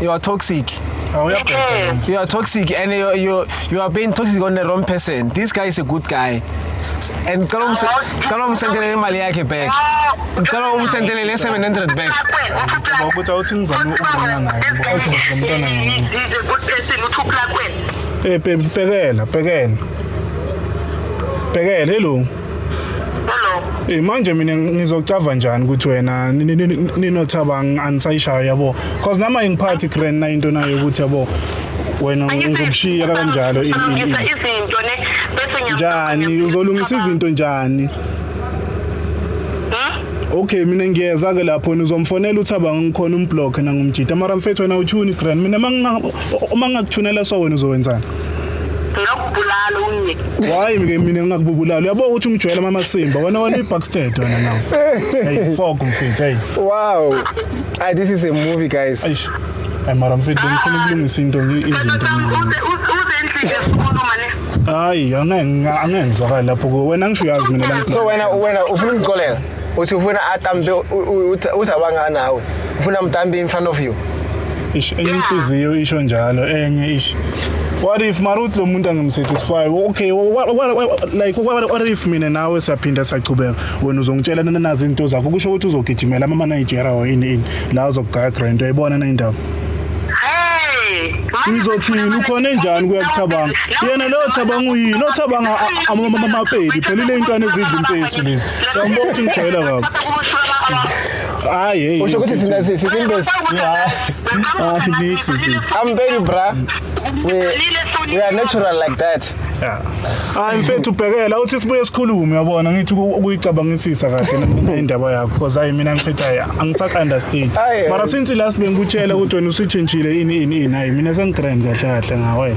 you are toxic Oh, It uyabheda. is. you are toxic and you, you, you are being toxic on the wrong person this guy is a good guy S- and cela umse- cela umsendele imali yakhe back Ngicela umsendele le 700 back. Ngicabanga ukuthi awuthi ngizame ukubona naye, ngoba awuthi ngizomntwana ngawe. uthupla kwena Eh, bhe- bhekela bhekela bhekela elungu Eh manje mina ngizocava njani ukuthi wena ninothaba anisayishayo yabo because nama ingiphathi grand na into nayo ukuthi yabo wena uzokushiya kanjalo izinto ne bese njani uzolungisa izinto njani Okay mina ngiyeza ke lapho nizomfonela uthaba ngikhona umblock nangumjita mara mfethu wena uchuni grand mina uma ngingakuthunela so wena uzowenzani ngakubulala unye why ke mina ngingakubulala uyabo ukuthi ungijwayela mama simba wena wena uyibackstage wena nawo hey fog mfethu hey wow ah this is a movie guys eish ay mara mfethu ngifuna ukulungisa into izinto hayi angeke angenzwakali lapho wena ngisho uyazi mina la so wena wena ufuna ungixolela uthi ufuna atambe uzabanga nawe ufuna mtambe in front of you ish enye inhliziyo isho njalo enye ish what if maruthi lo muntu angimsatisfy okay what, what, what, like what, what if mina nawe siyaphinda siyachubeka wena uzongitshela nanazi into zakho kusho ukuthi uzogijimela ama Nigeria or ini ini la uzokugaya grand uyayibona na indaba uyizothini ukhona enjani kuyakuthabanga yena leyo thabanga uyini othabanga amapedi phelile inkani ezidla impesi lezi Yabona ukuthi ngijwayela kabi. Hayi hey. Usho ukuthi sina sisimbe. Ah, niks. I'm very bra. We we are natural like that. Yeah. Hayi mfethu ubhekela uthi sibuye sikhulume yabona ngithi ukuyicabangisisa kahle indaba yakho because hayi mina mfethu hayi angisaka understand. Mara since last bengikutshela ukuthi wena usitshintshile ini ini hayi mina sengigrand kahle kahle ngawe.